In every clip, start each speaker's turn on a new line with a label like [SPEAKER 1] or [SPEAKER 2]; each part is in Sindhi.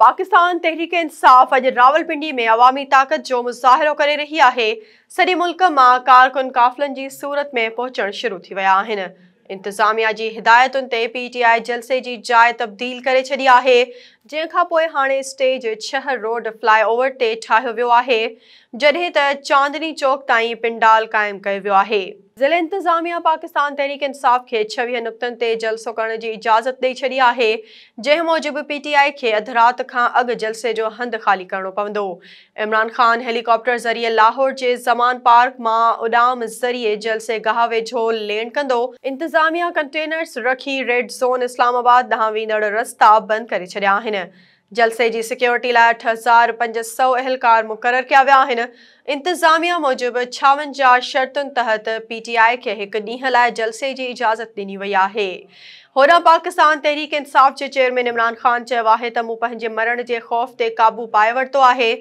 [SPEAKER 1] پاڪستان تحريڪ انصاف اڄ راولپنڊي ۾ عوامي طاقت جو مظاهرو ڪري رهي آهي، سڄي ملڪ مان ڪارڪن قافلن جي صورت ۾ پهچڻ شروع ٿي ويا آهن، انتظاميا جي هدايتن تي پي ٽي آء جلسي جي جاء تبديل ڪري ڇڏي آهي، جنهن کان پوء هاڻي اسٽيج ڇهه روڊ فلاء اوور تي ٺاهيو ويو آهي، جڏهن ته چاندني چوڪ تائين پنڊال قائم ڪيو ويو آهي. ضلعي انتظاميا پاڪستان تحريڪ انصاف کي ڇويهه نقطن تي جلسو ڪرڻ جي اجازت ڏئي ڇڏي آهي جنهن موجب پي ٽي آء کي اڌ رات کان اڳ جلسي جو هنڌ خالي ڪرڻو پوندو عمران خان هيلي ڪاپٽر ذريعي لاهور جي زمان پارڪ مان اڏام ذريعي جلسي گاهه ويجهو لينڊ ڪندو انتظاميا ڪنٽينرز رکي ريڊ زون اسلام آباد ڏانهن ويندڙ رستا بند ڪري ڇڏيا آهن جلسي جي سيڪيورٽي لاء اٺ هزار پنج سؤ اهلڪار مقرر ڪيا ويا آهن، انتظاميا موجب ڇاونجاهه شرطن تحت پي ٽي آء کي هڪ ڏينهن لاء جلسي جي اجازت ڏني وئي آهي. هوڏانهن پاڪستان تحريڪ انصاف جي چيئرمين عمران خان چيو آهي ته مون پنهنجي مرڻ جي خوف تي قابو پائي ورتو آهي.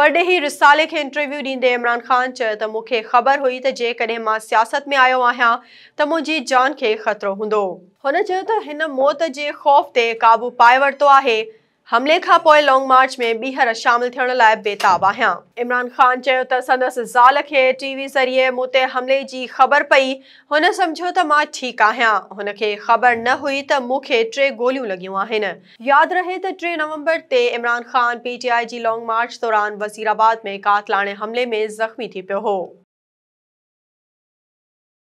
[SPEAKER 1] پرڏيهي رسالي کي انٽرويو ڏيندي عمران خان چيو ته مون کي خبر هئي ته جيڪڏهن مان سياست ۾ آيو آهيان ته منهنجي جان کي خطرو هوندو. هن چيو ته هن موت جي خوف تي قابو پائي ورتو آهي، حملي کانپوء لانگ مارچ ۾ ٻيهر شامل ٿيڻ لاء بيتاب آهيان. عمران خان چيو ته سندس زال کي ٽي وي ذريعي مون تي حملي جي خبر پئي، هن سمجهيو ته مان ٺيڪ آهيان، هن کي خبر نه هئي ته مون کي ٽي گوليون لڳيون آهن. ياد رهي ته ٽي نومبر تي Imran Khan P T I جي لانگ مارچ دوران وزيرآباد ۾ قاتلاڻي حملي ۾ زخمي ٿي پيو هو.